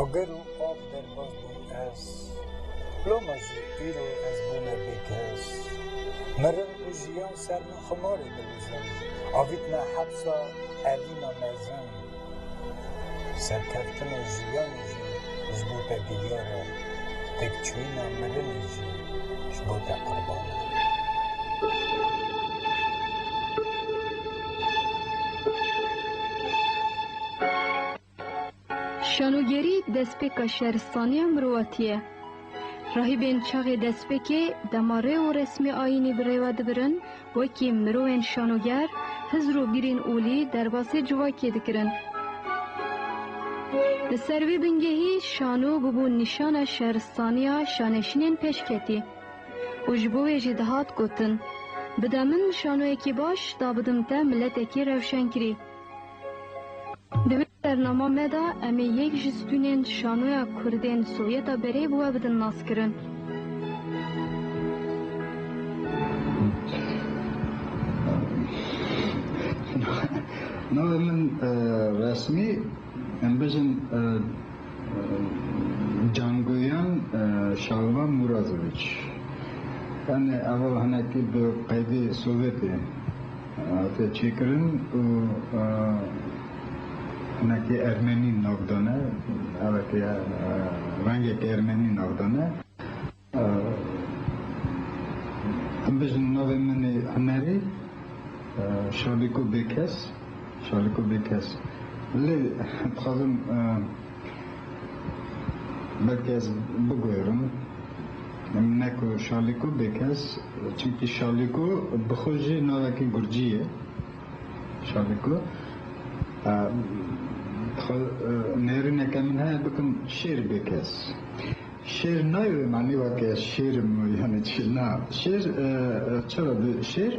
Agir û av derbas bûm ez. Loma jî îro ez bûme bêkes. Mirin û jiyan ser min ximarê dilijin. Avîtme hepsa evîna mezin. Serkeftinê jiyanê jî ji bo te diyar e. Têkçûyîna mirinê jî ji bo te qirban e. Şanogerî destpêka şeristaniya mirovatî ye. Rahîbên çaxê destpêkê dema rê û resmê ayînî bi rê ve dibirin, wekî mirovên şanoger hizr û bîrên olî derbasê civakê dikirin. Li ser vê bingehî şano bûbû nîşana şeristaniya şaneşînên pêşketî û ji bo wê jî dihat gotin, Bide min şanoyekî baş, da bidim te miletekî rewşenkirî. Di vê bernama me de em ê yek ji stûnên şanoya kurdên Sovyeta Berê bi we bidin naskirin. Navê min resmî em bijin Canguyan Şalvan Mûrazoviç. Em ê ava hinekî bi qeydê Sovyetê. hate çêkirin û hinekî ermenî nav dane, evekê rengek ermenî nav dane. Em bijîn navê min ê hunerî Şaliko Bêkes, Şaliko Bêkes lê dixwazim Belkî ez biguherim em ne ku Şalîko bêkes çimkî Şalîko bi xwe jî navekî gurcî ye. Şalîko xwe nêrîneke min heye bikim şêr bêkes. Şêr nayê wê manî weke ez şêrim û yanî çi na. Şêr çira di şêr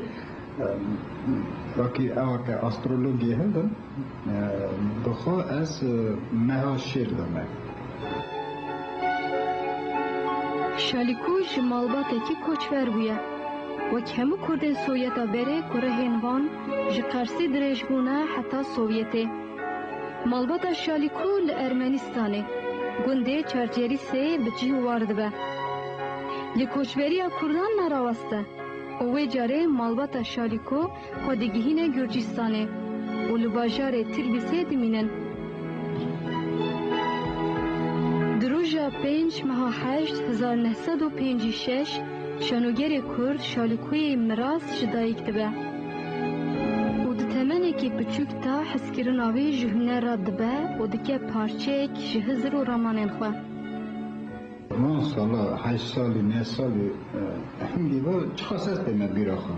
wekî ew weke astrologiyê hildin. Bi xwe ez meha şêr dime. Şalîko ji malbatekî koçber bûye. Wek hemû kurdên Sowyeta berê ku rihên van ji Qersê dirêj bûne heta Sowyetê. Malbata Şalîko li Ermenîstanê, gundê Çarçerîsê bi cih war dibe. Lê koçberiya kurdan ne rawest e û wê carê malbata Şalîko, xwe digihîne Gurcîstanê û li bajarê Tilbîsê dimînin. Di roja pênc meha heşt hezar neh sed û pênc û şeş şanogerê Kurd Şalikoyê Miras ji dayik dibe û di temenekî piçûk de hezkirina wî ji huner re dibe û dike parçeyek ji hizir û ramanên xwe. Van sala, heşt salî, neh salî, hingî va çiqas ez tême bîra xwe.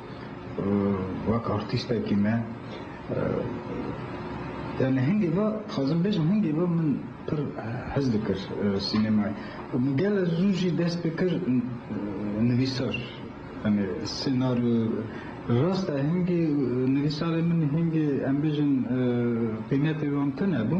Wek artîstekî me yani hingê ve dixwazim bêjim hingê ve min pir hez dikir sînemayê û min gele zû jî dest pê kir nivîsar yani senaryo rast e hingê nivîsarê min hingê em bêjin pêniyetê wan tune bû.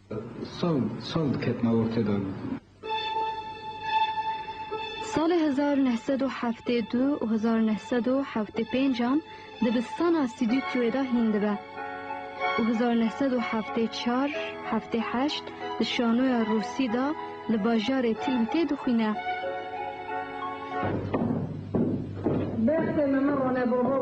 Sal sal diketine ortede. Salê hezar neh sed û heftê du û hezar neh sed û heftê pêncan dibistana Sîdîtyoyê de hîn dibe û hezar neh sed û heftê çar heftê heşt di şanoya Rûsî de li bajarê Tîlmtê dixwîne. Bextê me me rone bo ho.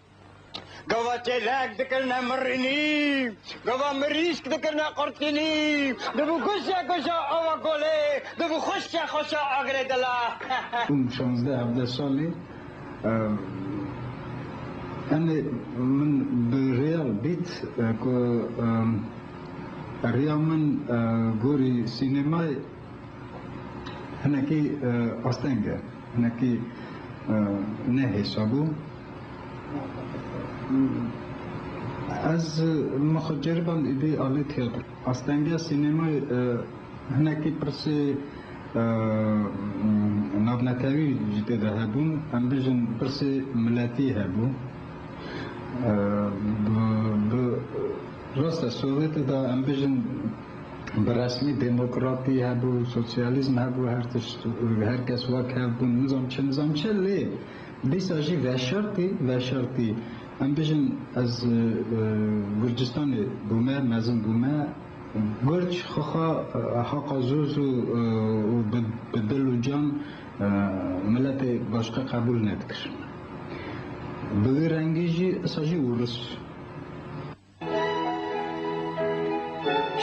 Gava çêlek dikirine mirinî, gava mirîşk dikirine qurtinî, dibû goşa goşa ava golê, dibû xweşa xweşa agirê dila. Şanzdeh hevdeh salî enê min bi rêya bît ku rêya min gorî sînemayê. Hinekî asteng e, hinekî ne hêsab û ez min xwe ceriband êdî alê tiyatro. Astengiya sînemayê hinekî pirsê navnetewî ji tê de hebûn, em bijin pirsê miletî hebû. Bi rastê sovetê de em bijin Bi resmî demokratî hebû, sosyalîzm hebû, her tişt û her kes wek hev bûn, nizam çi nizam çi lê dîsa jî veşertî veşertî em bijîn ez Gurcistanê bûme, mezin bûme, Gurc xixa haqa zûz û bi dil û can miletê başka qebûl nedikir. Bi wî rengî jî isa jî Ûris.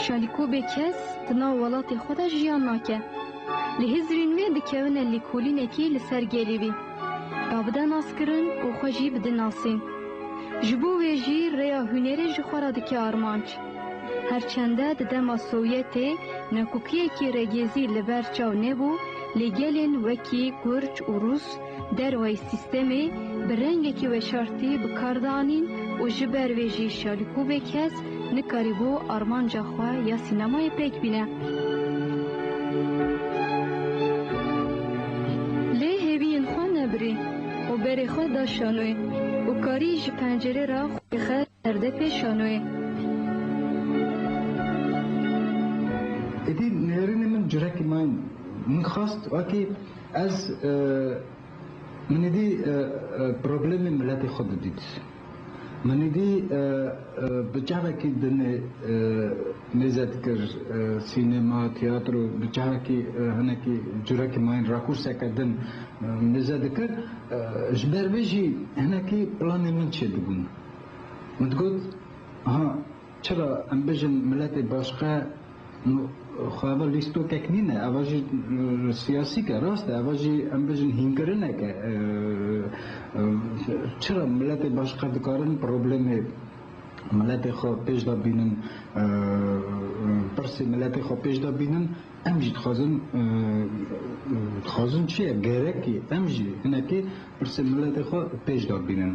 Şalîko bê kes di nav welatê xwe de jiyan nake. Li Hizrîn wê dikewine lêkolînekî li ser gelê wî. Ba bide naskirin û xwe jî bidin nasîn. Ji bo wê jî rêya hûnêrê ji xwe re dike armanc. Her çende di dema Sowyetê nekokiyekî regêzî li ber çaw nebû lê gelên wekî Gurc û Rûs, Dervayî sîstemê bi rengekî weşartî bi kar de anîn û ji ber vê jî Şalîkovê kes nikarîbû armanca xwe ya sînemayê pêk bîne. Lê hêviyên xwe nebirî û berê xwe da şanoyê û karî ji pencerê re xwedî xist. Perde pê şanoyê. Êdî nêrînê min curekî ma yin. Min xwest wekî ez min êdî problemê miletê xwe bidît. Min êdî bi çavekî dinê mêze dikir, sînema, tiyatro bi çavekî hinekî curekî ma yin rakûrseke din mêze dikir. Ji ber vê jî hinekî planê min çêdibûn. Min digot, ha çira em bijin miletê başqe xwe eva lîstokek nîne, eva jî siyasîk e, rast e, eva jî em bijin hînkirinek e, çira miletê başqe dikarin problemê miletê xwe pêş de bînin, pirsê miletê xwe pêş de bînin. Em jî dixwazin, dixwazin çi ye, gerek e em jî hinekî pirsên miletê xwe pêş de bînin.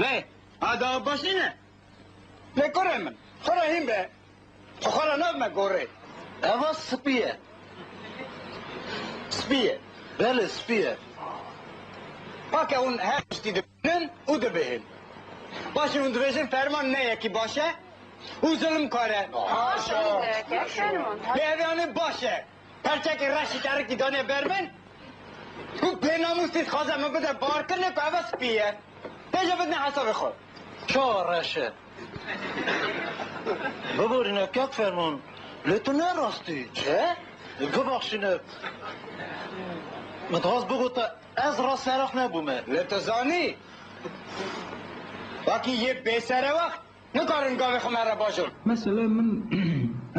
Lê a dawa baş nîne. Lê kurê min, xwe re hîn be, xwe xwe re nabime gorê. Eva spî ye. Spî ye. Belê spî ye. Bake hûn her tiştî dibînin û dibihîn. Baş e hûn dibêjin ferman ne yekî baş e û zilimkar e. Haşa! Lê ev yanê baş e. Perçekê reşî terikî danê ber min û pênamûsî dixwaze min bide barkirine ku ev e spî ye. Tê jî bidine hesabê xwe. Çawa reş e? Biborîne kek ferman, lê tu ne rastî e? Bibexşîne, min dixwaz bigote ez rast seraf nebûme. Lê tu zanî, wekî yê bêserewext Nikarim gavê xwe me re bajom. Mesele min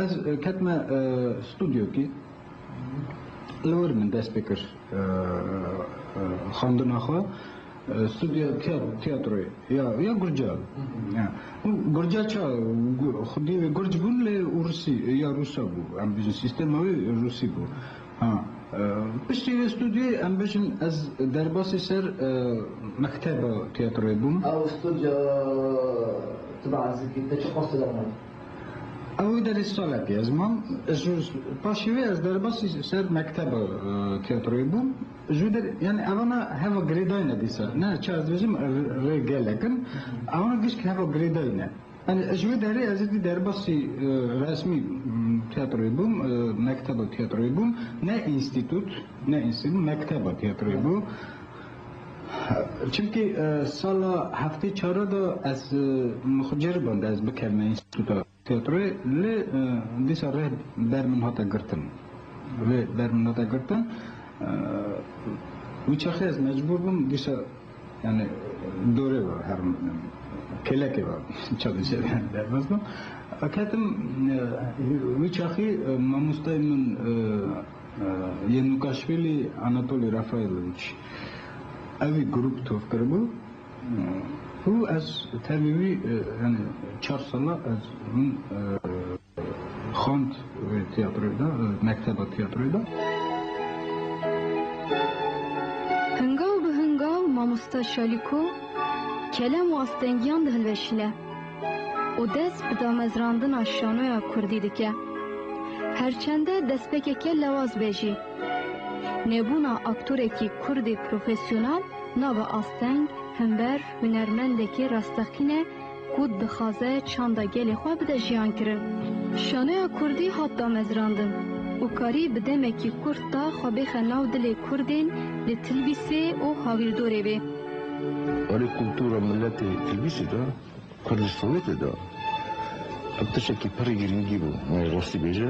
ez ketime studyoki li wir min dest pê kir xwendina xwe studyo tiyatroyê ya ya gurca û gurca ça xwedî wê gurc bûn lê û rûsî ya rûsa bû em bijin sîstema wê rûsî bû. Ha, piştî vê studyoyê em bijîn ez derbasî ser mekteba tîyatroyê bûm. Ew studyo tu bi ezikî te çi xwest tida mat? Ew derî salekê ez mam. Ji paşê wê ez derbasî ser mekteba tîyatroyê bûm. Ji wî der yanî evana heva girêdayî ne dîsa. Ne çi ez dibêjim rê gelek in. Evana gişt heva girêdayî ne. Ji wê derê ez êdî derbasî resmî tiyatroyê bûm, mekteba tiyatroyê bûm, ne înstîtût, ne înstîtût, mekteba tiyatroyê bû. Çimkî sala heftê çara de ez min xwe ceriband ez bikevime înstîtûta tiyatroyê lê dîsa rih ber min hate girtin. Rih ber min hate girtin. Wî çaxê ez mecbûr bûm dîsa Yanî dorê ve herim kêlekê ve çavên şerê derbas bû. Ketim wî çaxî mamostayê min yê nûkaşvêlî Anatolî Rafaîlowîç ewî grûp tor kiribû û ez tevî wî yanî çar sala ez hûn Xwend wê tiyatroyê de, mekteba tiyatroyê de. Hingaw bi hingaw mamosta Şalîko kelem û astengiyan dihilweşîne û dest bi damezrandina şanoya kurdî dike. Her çende destpêkeke lewaz be jî, nebûna aktorekî kurdî profesyonel nabe asteng, himber, hunermendekî rasteqîne, ku dixwaze çanda gelê xwe bide jiyankirin. Şanoya kurdî hat damezrandin û karî bi demekî kurt de xwe bêxe nav dilê kurdên li Tilbîsê û hawîrdorê wê. Erê kultura miletê Tilbîsê de, Kurdistanê tê de, ev tiştekî pirr girîngî bû, me yê rastî bêje.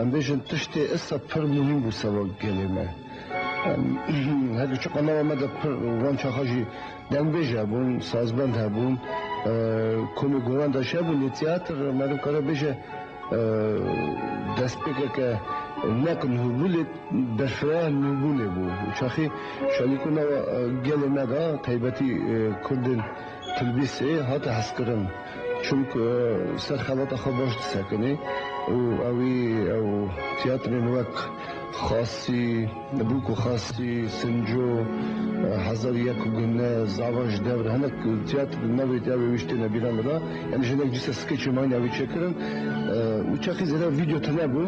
Em bêjin tiştê issa pir muhîm bû sewa gelê me. Her du çiqa nava me de pir wan çaxa jî dengbêj hebûn, sazbend hebûn, komê goran de jî hebûn lê tîyatir me nikare bêje destpêkeke neql nûbû lê berfireh nûbûnê bû. Çaxî şalîko nava gelê me de taybetî kurdên Tilbîsê hate hezkirin. Çimku ser xelata xwe baş disekinê û ewî ew tîyatrên wek Xasî, Bûk û Xasî, Sinco, Hezar û Yek Gune, Zavan ji Dewr hinek tîyatr di navê tê ewê wî ji têne bîran de da. Yanî ji hinek dîsa skêçê mayîn ewî çêkirin. Û çaxî zêde vîdyo tune bû.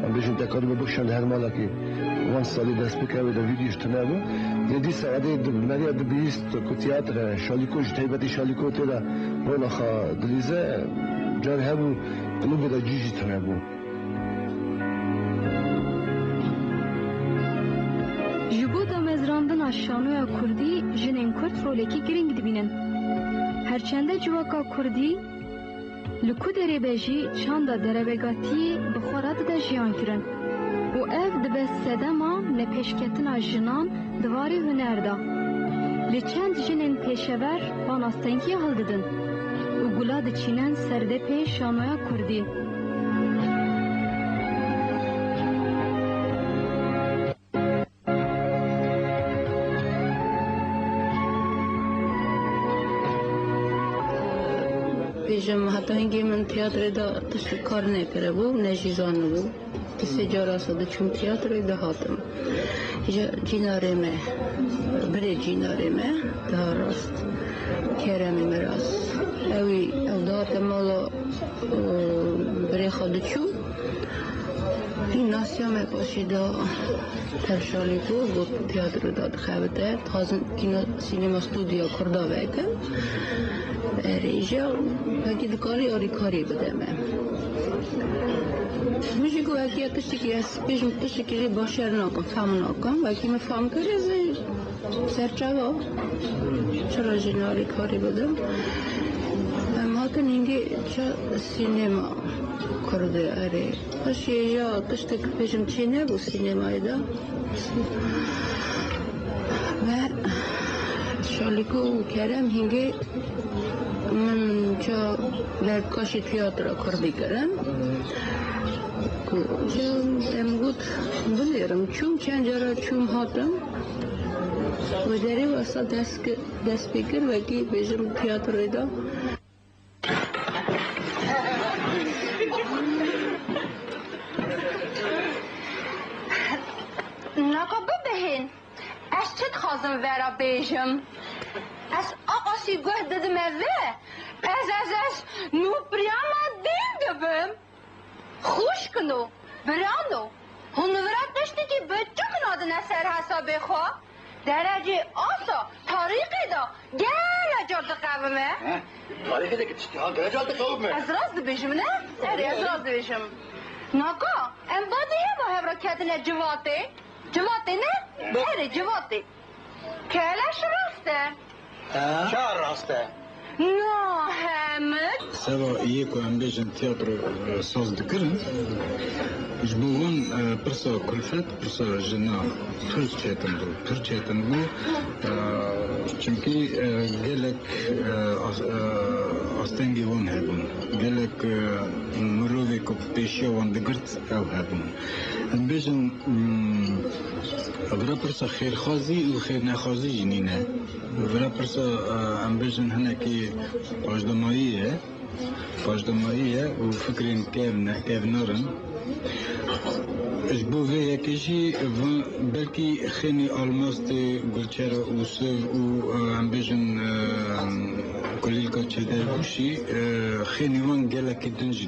Em bêjin tekarî me bikişand li her malekî. Wan salî dest bike ewê de vîdyoş tune bû. Lê dîsa edê di meriya di bihîst. Te ku tiyatre, şalîko ji taybetî şalîko tê de rola xwe dilîze, carî hebû qulûbê de cî jî tune bû. Ji bo damezrandina şanoya kurdî jinên kurd rolekî girîng dibînin. Her çende civaka kurdî, Li ku derê be jî çanda derevegatiyê bi xwe re dide jiyankirin û ev dibe sedema nepêşketina jinan di varê huner de. Lê çend jinên pêşever van astengiyê hildidin û gula diçînin ser depê şanoya kurdî. Bêjim heta hingê min tîyatrê de tiştî kar nekiribû ne jî zanibû. Di sê cara se diçûm tîyatroyê dihatim. Ji cînarê me birê cînarê me diha rast Kerem Miras. Ewî ew dihate mala birê xwe diçû. Gîmnasîya me paşê da tevşanê ku got tîyatro da dixebite. Dixwazin kîno sînema stûdyoya kurda veke. Rêjeya wekî dikarî alîkarî bide me. Min jî got wekî ya tiştekî ez pêşî tiştekî rê baş nakim, fehm nakim. Wekî min fehm kir ez ê Serçava çira jî ne alîkarî bidim. Em hatin hingî ça sînema Kurdê erê. Xweşî ya tiştek bêjim çî nebû sînemayê de. Ve Şalîko û Kerem hingî min ça dervkaşî tiyatra Kurdî kirin. Ku em got binêrim çûm çend cara çûm hatim. Wejerê wesa dest pê kir wekî bêjim tîyatroyê de. Naka bibihîn, ez çi dixwazim vera bêjim? Ez aqasî guh didime vê, ez ez ez nû pirîyama dîn dibim. Xwişkin û biran û hunvira tiştekî bi çiqna dine ser hesabê xwe, derecê asa tarîqê de gele car diqewime. He, tarîqê de tiştê ha gele car diqewime. Ez rast dibêjim ne? Erê ez rast dibêjim. Naka em badî heva hev re ketine civatê, civatê ne? Erê civatê. Keleş rast e. Ka rast e. Na hemit. Seba yê ku em bêjin tiyatro saz dikirin, ji bo wan pirsa kulfet, pirsa ji na Tirkiyê tundbû. Tirkiyê tundbû çimkî gelek astengê wan hebûn. Gelek mirovê ku bi pêşiya wan digirt ew hebûn. Em bêjin vira pirsa xêrxwazî û xêrnexwazî jî nîne. Vira pirsa em bêjin hinekî paşdamayî ye. Paşdamayî ye û fikrên kevn e, kevnar in. Ji bo vê yekê jî van belkî xênî almas tê gulçera û siv û em bêjin kulîlka çêdergûşî xênî wan gelekî din jî